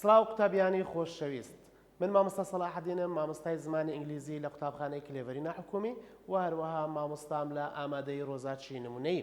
سڵاو قوتابیانی خۆشەویست من مامۆستا سەڵاحەدینم مامۆستای زمانی ئینگلیزی لە قوتابخانەی کلێڤەری ناحکومی و هەروەها مامۆستام لە ئامادەی ڕۆزاچی نمونەیی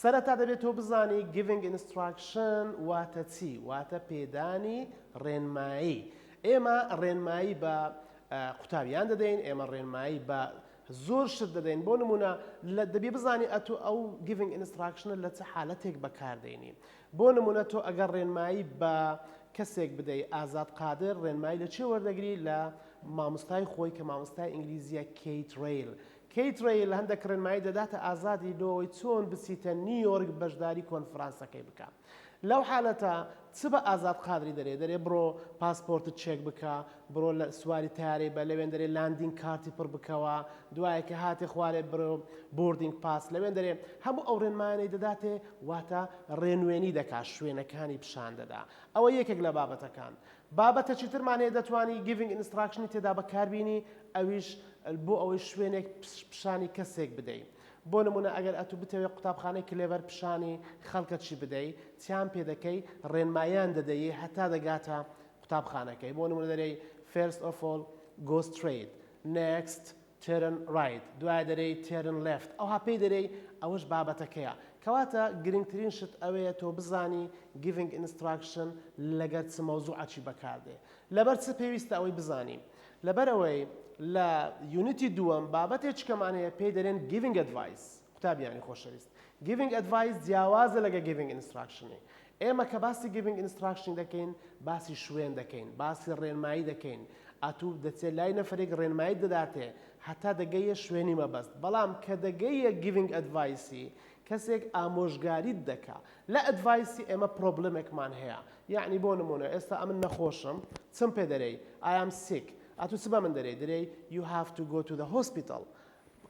سەرەتا دەبێت تۆ بزانی Giving Instruction واتە چی؟ واتە پێدانی ڕێنمایی. ئێمە ڕێنمایی بە قوتابیان دەدەین، ئێمە ڕێنمایی بە زۆر شت دەدەین، بۆ نموونە دەبی بزانی ئەتو ئەو Giving Instruction لە چ حالەتێک بەکاردێنی. بۆ نموونە تۆ ئەگەر ڕێنمایی بە کەسێک بدەی، ئازاد قادر، ڕێنمایی لە چێ وەردەگری؟ لە مامۆستای خۆی کە مامۆستای ئینگلیزییە Kate Rayl. کەیت ڕێیل هەندێک ڕێنمایی دەداتە ئازادی لۆ ئەوەی چۆن بچیتە نیویۆرک بەشداری کۆنفرانسەکەی بکا لەو حالەتە چ بە ئازاد قادری دەرێ دەرێ بڕۆ پاسپۆرتت چێک بکە بڕۆ لە سواری تەیارەی بە لەوێن دەرێ لاندینگ کارتی پڕ بکەوە دوایە کە هاتێ خوارێ برۆ بۆردینگ پاس لەوێن دەرێ هەموو ئەو ڕێنمایانەی دەداتێ واتە ڕێنوێنی دەکا شوێنەکانی پیشان دەدا ئەوە یەکێک لە بابەتەکان بابەتەکی ترمان هەیە دەتوانی Giving Instruction ی تێدا بەکار بینی ئەویش بۆ ئەوەی شوێنێک پیشانی کەسێک بدەی بۆ نمونە ئەگەر ئەتو بتەوێ قوتابخانەی کلێڤەر پیشانی خەڵکەکی بدەی چیان پێ دەکەی ڕێنماییان دەدەیی هەتا دەگاتە قوتابخانەکەی بۆ نمونە دەرێی First of all Go straight Next Turn Right، دوایە دەرێی Turn Left، ئەوها پێی دەرێی ئەوەش بابەتەکەیە. کەواتە گرنگترین شت ئەوەیە تۆ بزانی Giving Instruction لەگەر چ مەوزوعەکی بەکاردێ. لەبەر چ پێویستە ئەوەی بزانین؟ لەبەرئەوەی لە یونیتی دووەم بابەتێچکەمان هەیە پێی دەرێن Giving Advice، قوتابیانی خۆشەویست. Giving Advice جیاوازە لەگە Giving Instruction. ئێمە کە باسی Giving Instruction دەکەین باسی شوێن دەکەین باسی ڕێنمایی دەکەین ئاتوو دەچێت لای نەفرێک ڕێنمایی دەداتێ هەتا دەگەیە شوێنی مەبەست بەڵام کە دەگەیە Giving Advice کەسێک ئامۆژگاریت دەکا لە ئەدڤایسی ئێمە پرۆبلمێکمان هەیە یعنی بۆ نمونە ئێستا ئەمن نەخۆشم چم پێ دەرێی ئایام سیک ئەتو چ بە من دەرێی دەرێی you have to go to the hospital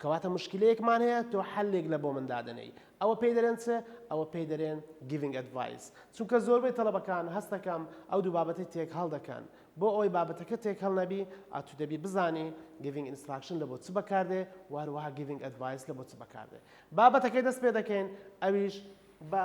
کەواتە مشکیلەیەکمان هەیە تۆ حەلێک لە بۆ من دادەنێی ئەوە پێی دەرێن چ؟ ئەوە پێی دەرێن Giving Advice چونکە زۆربەی تەڵەبەکان هەست دەکەم ئەو دوو بابەتەی تێکهەڵ دەکەن بۆ ئەوەی بابەتەکە تێکهەڵ نەبی ئەتو دەبی بزانی Giving Instruction لە بۆ چ بەکاردێ و هەروەها Giving Advice لە بۆ چ بەکاردێ بابەتەکەی دەست پێ دەکەین ئەویش بە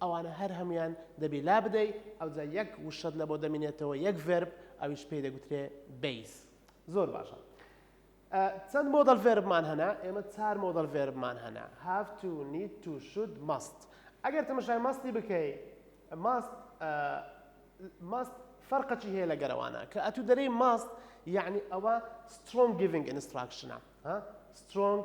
ئەوانە هەر هەموویان دەبی لابدەی ئەوجا یەک وشەت لەبۆ دەمینێتەوە یەک ڤێرب ئەویش پێی دەگوترێ بەیس زۆر باشە چەند مۆدەل ڤێربمان هەنا ئێمە چار مۆدەل ڤێربمان هەنا هاف تو نیت تو شود مەست ئەگەر تەمەشای مەستی بکەی ماست ماست فەرقەچی هەیە لە گەرەوانە کە ئەتو دەرەی ماست یعنی ئەوە سترۆنگ گیڤنگ ئینستراکشنە سترۆنگ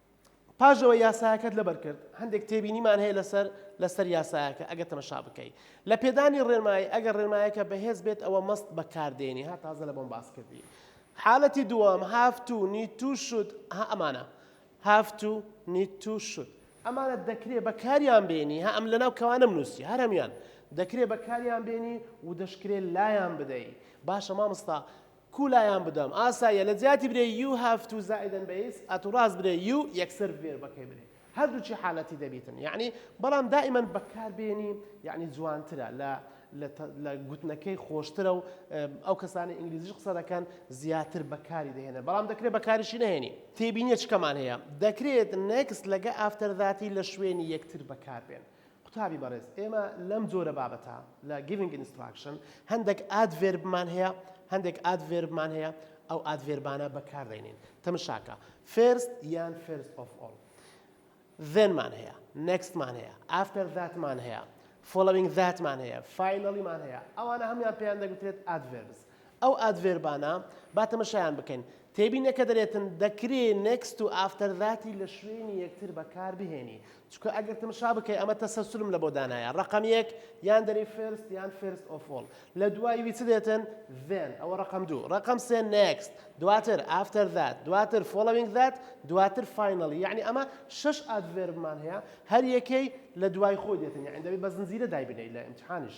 پاش ئەوەی یاسایەکەت لەبەر کرد، هەندێک تێبینیمان هەیە لەسەر لەسەر یاسایەکە ئەگەر تەمەشا بکەی. لە پێدانی ڕێنمایی، ئەگەر ڕێنمایەکە بەهێز بێت ئەوە مەست بەکار دێنی، ها تازە لەمەم باس کردی. حالەتی دووەم، have to، need to، should، ها ئەمانە. have to، need to، should. ئەمانە دەکرێ بەکاریان بێنی، ها ئەم لەناو کەوانەم نووسی، هەر هەموویان. دەکرێ بەکاریان بێنی و دەشکرێ لایان بدەی. باشە مامۆستا کو لایان بدەم ئاساییە لە جیاتی برێ یو هاف تو زائیدەن بەیس ئەتو ڕاست برێ یو یەکسەر ڤێربەکەی برێ هەردووکی حالەتی دەبیتن یەعنی بەڵام دائیمەن بەکار بێنی یەعنی جوانترە لە لە گوتنەکەی خۆشترە و ئەو کەسانی ئینگلیزیش قسە دەکەن زیاتر بەکاری دەهێنە بەڵام دەکرێت بەکاریشی نەهێنی تێبینیە چکەمان هەیە دەکرێت نێکست لەگە ئافتەر ذاتی لە شوێنی یەکتر بەکار بێن قوتابی بەڕێز ئێمە لەم جۆرە بابەتە لە Giving Instruction هەندێک ئادڤێربمان هەیە هەندێک ئادڤێربمان هەیە ئەو ئادڤێربانە بەکاردەینین تەمشاکە First یان First of all then مان هەیە next مان هەیە after that مان هەیە following that مان هەیە finally مان هەیە ئەوانە هەموان پێیان دەگوترێت adverbs ئەو ئادڤێربانە با تەمەشایان بکەین. تێبینە کە دەرێتن، دەکرێ next و after that ی لە شوێنی یەکتر بە کار بهێنی. چونکە ئەگەر تەمەشا بکەی ئەمە تەسەلسولم لە بۆ دانایە. ڕەقەم یەک یان دەرێی first یان first of all. لە دوای وی چ دێتن؟ then ئەوە ڕەقەم دوو. ڕەقەم سێ next، دواتر after that، دواتر following that، دواتر finally. یەعنی ئەمە شەش ئادڤێربمان هەیە هەر یەکەی لە دوای خۆی دێتن. یەعنی دەبێ بە زنجیرە دایبنێی لە ئیمتیحانیش.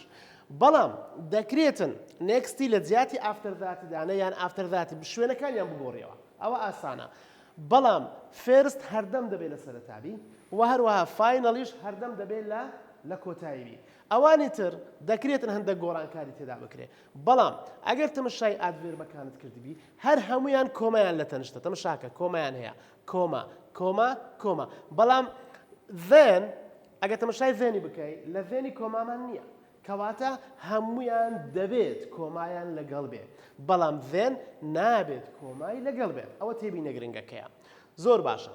بەڵام دەکرێتن نێکستی لە جیاتی ئافتەر ذاتی دانێ یان ئافتەر ذاتی ب شوێنەکانیان بگۆڕیەوە ئەوە ئاسانە بەڵام فێرست هەردەم دەبێ لە سەرەتا بی وە هەروەها فاینەڵیش هەردەم دەبێ لە لە کۆتایی بی ئەوانی تر دەکرێتن هەندەک گۆڕانکاری تێدا بکرێ بەڵام ئەگەر تەمەشای ئادڤێربەکانت کردبی هەر هەمویان کۆمایان لە تەنشتە تەمەشاکە کۆمایان هەیە کۆما کۆما کۆما بەڵام then ئەگەر تەمەشای ڤێنی بکەی لە ڤێنی کۆمامان نیە کەواتە هەموویان دەبێت کۆمایان لەگەڵ بێ بەڵام ڤێن نابێت کۆمای لەگەڵ بێت ئەوە تێبینە گرنگەکەیە زۆر باشە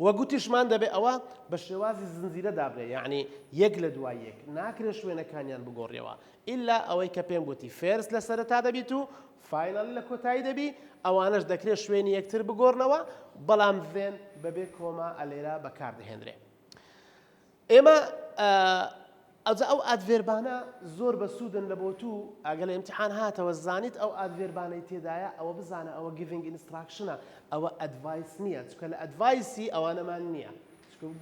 وە گوتیشمان دەبێ ئەوە بە شێوازی زنجیرە دابنێ یعنی یەک لە دوای یەک ناکرێ شوێنەکانیان بگۆڕیەوە ئیلا ئەوەی کە پێم گوتی فێرس لە سەرەتا دەبیت و فاینەڵی لە کۆتایی دەبی ئەوانەش دەکرێ شوێنی یەکتر بگۆڕنەوە بەڵام ڤێن بەبێ کۆما ئەلێرا بەکاردەهێنرێ ئێمە ئەوجا ئەو ئادڤێربانە زۆر بە سوودن لە بۆ تو ئەگە لە ئیمتحان هاتەوە زانیت ئەو ئادڤێربانەی تێدایە ئەوە بزانە ئەوە گڤینگ ئینستراکشنە ئەوە ئەدڤایس نییە چکە لە ئەدڤایسی ئەوانەمان نییە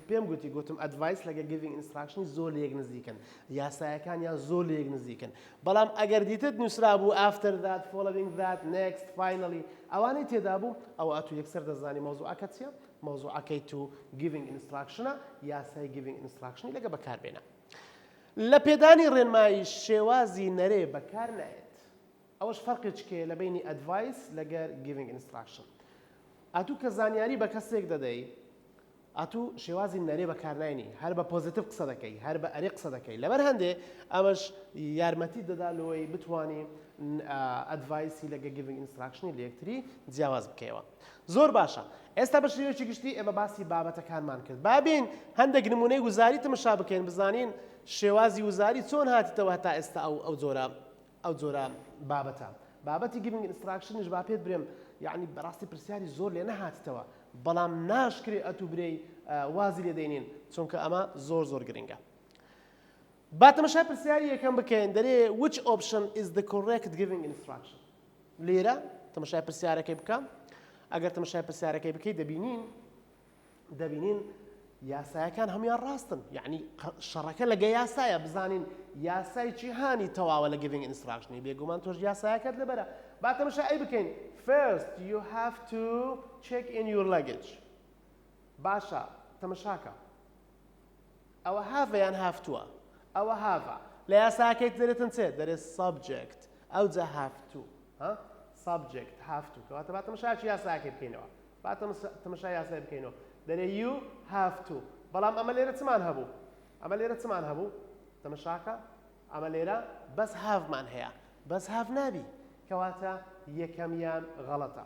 پێم گوتی گوتم ئەدڤایس لەگە گڤینگ ئینستراکشنی زۆر لە یەک نزیکن یاسایەکان یان زۆر لە یەک نزیکن بەڵام ئەگەر دیتت نووسرا بوو ئافتەر دات فۆڵوینگ دات نێکست فاینەڵی ئەوانەی تێدا بوو ئەوە ئەتو یەکسەر دەزانی مەوزوعەکە چیە مەوزوعەکەی تو گیڤینگ ئینستراکشنە، یاسای گیڤینگ ئینستراکشنی لەگە بەکاربێنە. لە پێدانی ڕێنمایی شێوازی نەرێ بەکار نایەت. ئەوەش فەرقێکی هەیە لە بەینی ئەدڤایس لەگەر گیڤینگ ئینستراکشن. ئەتو کە زانیاری بە کەسێک دەدەی، ئەتو شێوازی نەرێ بەکار ناینی، هەر بە پۆزەتیڤ قسە دەکەی، هەر بە ئەرێ قسە دەکەی. لەبەر هەندێ ئەمەش یارمەتیت دەدا لەوەی بتوانی ئەدڤایسی لەگە گیڤینگ ئینستراکشنی لە یەکتری جیاواز بکەیەوە. زۆر باشە. ئێستا بە شێوەیەکی گشتی ئێمە باسی بابەتەکانمان کرد. با بێین هەندێک نموونەی وزاری تمشا بکەین بزانین شێوازی وزاری چۆن هاتیتەوە هەتا ئێستا ئەو ئەو جۆرە ئەو جۆرە بابەتە. بابەتی گیڤینگ ئینستراکشنیش با پێت برێم یەعنی بەڕاستی پرسیاری زۆر لێ نەهاتیتەوە بەڵام ناشکرێ ئەتوو برێی وازی لێ دەینین چونکە ئەمە زۆر زۆر گرنگە. با تمشای پرسیاری یەکەم بکەین دەرێ which option is the correct giving instruction؟ لێرە تەمەشای پرسیارەکەی بکە ئەگەر تەمەشای پرسیارەکەی بکەیت دەبینین دەبینین یاسایەکان هەموان ڕاستن یعنی شەڕەکە لەگە یاسایە بزانین یاسای جیهانی تەواوە لە گڤنگ ئینستراژنی بێگومان تۆش یاسایەکەت لەبەرە با تەمەشا ئەی بکەین first you have to check in your luggage باشە تەمەشاکە ئەوە هاڤە یان هافتووە؟ ئەوە هاڤە. لە یاساکەی دەرێتن چێ؟ دەرێت سەبجێکت. ئەوجا هافتوو. ها؟ سەبجێکت هافتوو. کەواتە با تەمەشاچ یاساکەی بکەینەوە. با تەمەشا یاسای بکەینەوە. دەرێ یو هافتوو. بەڵام ئەمە لێرە چمان هەبوو؟ ئەمە لێرە چمان هەبوو؟ تەمەشاکە ئەمە لێرە بەس هاڤمان هەیە. بەس هاڤ نابی. کەواتە یەکەمیان غەڵەتە.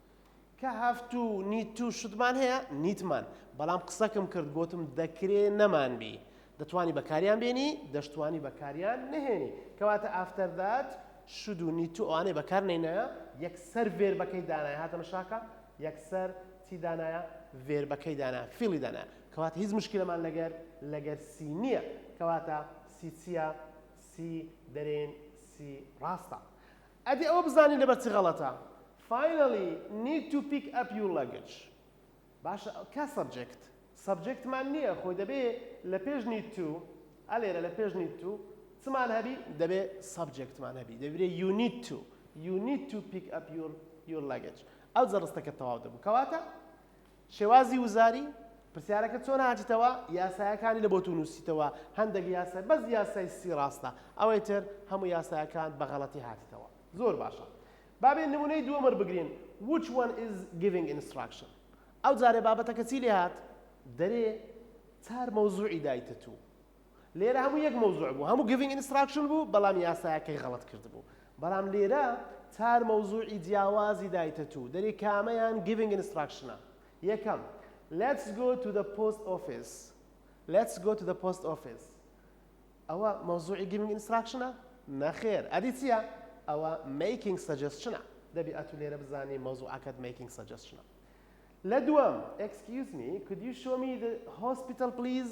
کە هەفتو نیتو شتمان هەیە نیتمان بەڵام قسەکم کرد گۆتم دەکرێ نەمان بی دەتوانی بەکاریان بێنی دەشتوانی بەکاریان نەهێنی کەواتە ئافتەر دات شود و نیتو ئەوانەی بەکار نەینایە یەکسەر ڤێربەکەی دانایە هاتە مشاکە یەکسەر چی دانایە ڤێربەکەی دانا فیڵی دانا کەواتە هیچ مشکلەمان لەگەر لەگەر سی نییە کەواتە سی چییە سی دەرێن سی ڕاستە ئەدی ئەوە بزانی لەبەر چ غەڵەتە Finally need to pick up your luggage باشە کە سەبجێکت سەبجێکتمان نییە خۆی دەبێ لە پێش need to ئە لێرە لە پێش need to چمان هەبی دەبێ سەبجێکتمان هەبی دەبێ you need to you need to pick up your your luggage ئەو جەڕستەکە تەواو دەبوو کەواتە شێوازی وزاری، پرسیارەکە چۆن هاتیتەوە یاسایەکانی لە بۆتو نوسیتەوە هەندەک یاسای بەس یاسای سی ڕاستە ئەوەی تر هەموو یاسایەکانت بە غەڵەتی هاتیتەوە زۆر باشە با بێ نمونەی دووەم وەربگرین which one is giving instruction ئەو جارێ بابەتەکە چی لێ هات دەرێ چار مەوزوعی دایتە تو لێرە هەموو یەک مەوزوع بوو هەموو گڤینگ ئینستراکشن بوو بەڵام یاسایەکەی غەڵەت کردبوو بەڵام لێرە چار مەوزوعی جیاوازی دایتە توو دەری کامەیان گڤینگ ئینستراکشنە یەکەم Let's go to the post office Let's go to the post office ئەوە مەوزوعی گڤینگ ئینستراکشنە نەخێر ئەدی چییە ئەوە making suggestion دەبی ئەتو لێرە بزانی مەوزوعەکەت making suggestion لە دووەم Excuse me could you show me the hospital please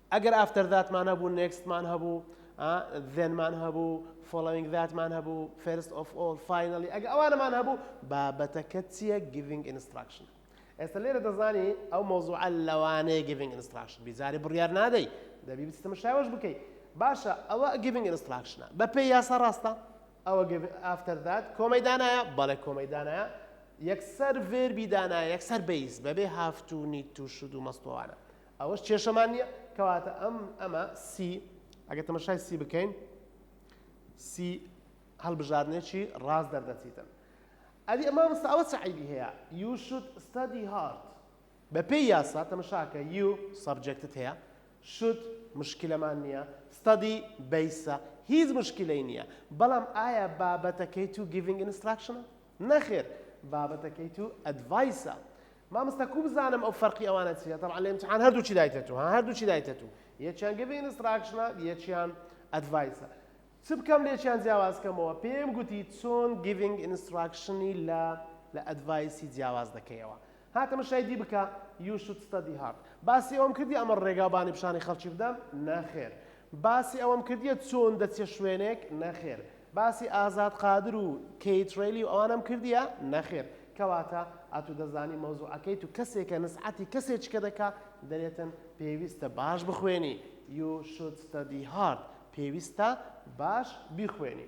ئەگەر ئافتەر ذاتمان هەبوو نێکستمان هەبوو ئا ذێنمان هەبوو فۆڵۆوینگ ذاتمان هەبوو فێرست ئۆف ئۆڵ فاینەڵی ئەگە ئەوانەمان هەبوو بابەتەکە چییە گیڤینگ ئینستراکشن ئێستا لێرە دەزانی ئەو مەوزوعە لەوانەیە گیڤینگ ئینستراکشن بی جارێ بڕیار نادەی دەبی بچیتە مشاوەش بکەی باشە ئەوە گیڤینگ ئینستراکشنە بەپێی یاسا ڕاستە ئەوە ئافتەر ذات کۆمەی دانایە بەڵێ کۆمەی دانایە یەکسەر ڤێربی دانایە یەکسەر بەیس بەبێ هافتوو نیت و شود و مەستوانە ئەوەش کێشەمان نیە کەواتە ئەم ئەمە سی ئەگە تەمەشای سی بکەین سی هەڵبژاردنێکی ڕاست دەردەچیتن ئەدی ئەمە مەستا ئەوە سەعیبی هەیە یو شود ستادی هارد بە پێی یاسا تەمەشاکە یو سەبجەکتت هەیە شود مشکلەمان نییە ستادی بیسە هیچ مشکلەی نییە بەڵام ئایا بابەتەکەی تو گیڤنگ ئینستراکشنە نەخێر بابەتەکەی تو ئەدڤایسە. مامۆستا کو بزانم ئەو فەرقی ئەوانە چیە تەبعەن لە ئیمتحان هەردووکی دایتە تو ها هەردووکی دایتە تو یەکیان گڤ ئینستراکشنە یەکیان ئەدڤایسە چ بکەم لێکیان جیاواز کەمەوە پێم گوتی چۆن گیڤینگ ئینستراکشنی لە لە ئەدڤایسی جیاواز دەکەیەوە ها تەمەشای دی بکە you should study hard باسی ئەوەم کردیە ئەمە ڕێگا بانی پیشانی خەڵکی بدەم نەخێر باسی ئەوەم کردیە چۆن دەچیە شوێنێک نەخێر باسی ئازاد قادر و کەیت ڕێلی و ئەوانەم کردیە نەخێر کەواتە ئەتو دەزانی مەوزوعەکەی تو کەسێکە نسعەتی کەسێکە دەکا دەرێتن پێویستە باش بخوێنی you should study hard پێویستە باش بیخوێنی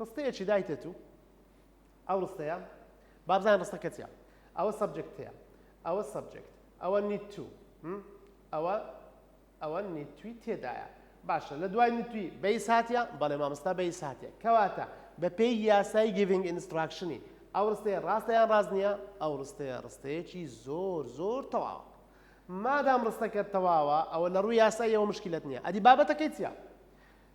ڕستەیەکی دایتێت و ئەو ڕستەیە با بزانین ڕستەکە چیە ئەوە سەبجەکتەیە ئەوە سەبجەکت ئەوە نیت تو ئەوە ئەوە نیت توی تێدایە باشە لە دوای نیت توی بەیس هاتیە بەڵێ مامۆستا بەیس هاتیە کەواتە بەپێی یاسای گیڤینگ ئینستراکشنی ئەو ڕستەیە ڕاستە یان ڕاست نییە ئەو ڕستەیە ڕستەیەکی زۆر زۆر تەواوە مادام ڕستەکە تەواوە ئەوە لە ڕووی یاساییەوە مشکلت نییە ئەدی بابەتەکەی چیە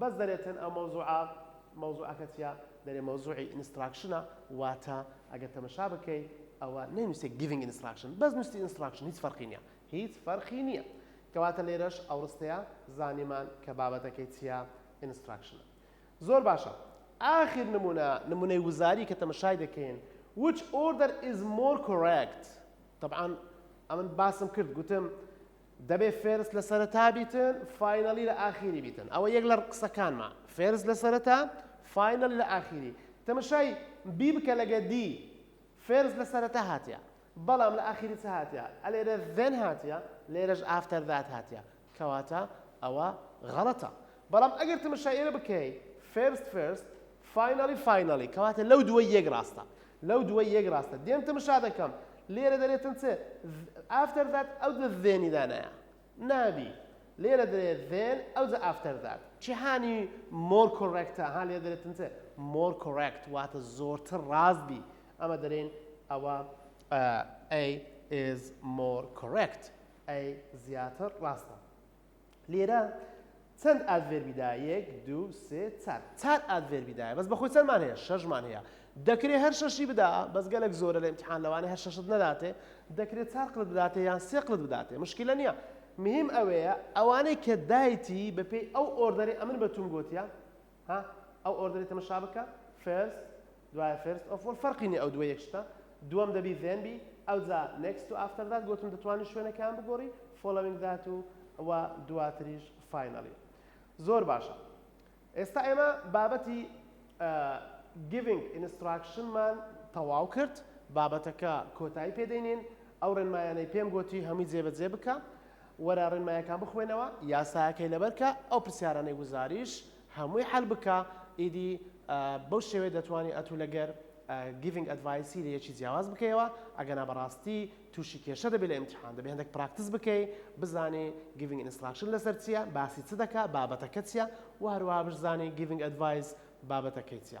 بەس دەرێ تن ئەو مەوزوعە مەوزوعەکە چیە دەرێ مەوزوعی ئینستراکشنە واتە ئەگەر تەمەشا بکەی ئەوە نەینوسێ گیڤینگ ئینستراکشن بەس نوستی ئینستراکشن هیچ فەرقی نیە هیچ فەرقی نیە کەواتە لێرەش ئەو ڕستەیە زانیمان کە بابەتەکەی چیە ئینستراکشنە زۆر باشە ئاخر نمونە نمونەی وزاری کە تەمەشای دەکەین which order is more correct طبعا ئەمن باسم کرد گوتم دەبێ فێرست لە سەرەتا بیتن فاینەڵی لە ئاخیری بیتن ئەوە یەک لە قسەکانمە فێرست لە سەرەتا فاینەڵی لە ئاخیری تەمەشای بی بکە لەگە دی فێرست لە سەرەتا هاتیە بەڵام لە ئاخیری چ هاتیە ئەلێرە ذێن هاتیە لێرەش ئافتەر ذات هاتیە کەواتە ئەوە غەڵەتە بەڵام ئەگەر تەمەشای ئێرە بکەی فێرست فێرست فاینەڵی فاینەڵی کەواتە لەو دووەی یەک ڕاستە لەو دووەی یەک ڕاستە دێم تمشا دەکەم لێرە دەرێتن چ ئافتەر ذات ئەو دە ذێنی دانایە نابی لێرە دەرێت ذێن ئەو جە ئافتەر ذات جیهانی مۆر کۆڕێکتە ها لێ دەرێتن چ مۆر کۆڕێکت واتە زۆرتر ڕاست بی ئەمە دەرێن ئەوە ئەی is more correct ئەی زیاتر ڕاستە لێرە چەند ئادڤێربی دا یەک دوو سێ چار چار ئادڤێربی دایە بەس بەخۆی چەندمان هەیە شەشمان هەیە دەکرێ هەر شەشی بدا بەس گەلێک زۆرە لە امتحان لەوانە هەر شەشت نەداتێ دەکرێت چار قلت بداتێ یان سێ قلت بداتێ مشکلە نییە مهم ئەوەیە ئەوانەی کە دایتی بەپێی ئەو ئۆردەری ئەمن بەتون گۆتیە ها ئەو ئۆردەری تەمەشا بکە فێرست دوایە فێرست ئۆف ئۆل فەرقی نیە ئەو دووە یەک شتە دووەم دەبی ڤێن بی ئەوجا نێکست و ئافتەر دات گۆتم دەتوانی شوێنەکەیان بگۆڕی فۆلەوینگ دات و و دواتریش فاینەڵی زۆر باشە ئێستا ئێمە بابەتی گیڤنگ ئینستراکشنمان تەواو کرد بابەتەکە کۆتایی پێدەینین ئەو ڕێنمایانەی پێم گۆتی هەمووی جێبەجێ بکە وەرە ڕێنمایەکان بخوێنەوە یاسایەکەی لەبەر کە ئەو پرسیارانەی گوزاریش هەمووی حەل بکە ئیدی بەو شێوەیە دەتوانی ئەتوو لەگەر گیڤنگ ئەدڤایسی لە یەکی جیاواز بکەیەوە ئەگەنا بەڕاستی تووشی کێشە دەبێت لە ئیمتحان دەبێت هەندێک پراکتس بکەی بزانی گیڤنگ ئینستراکشن لەسەر چییە باسی چ دەکا بابەتەکە چییە و هەروەها بزانی گیڤنگ ئەدڤایس بابەتەکەی چییە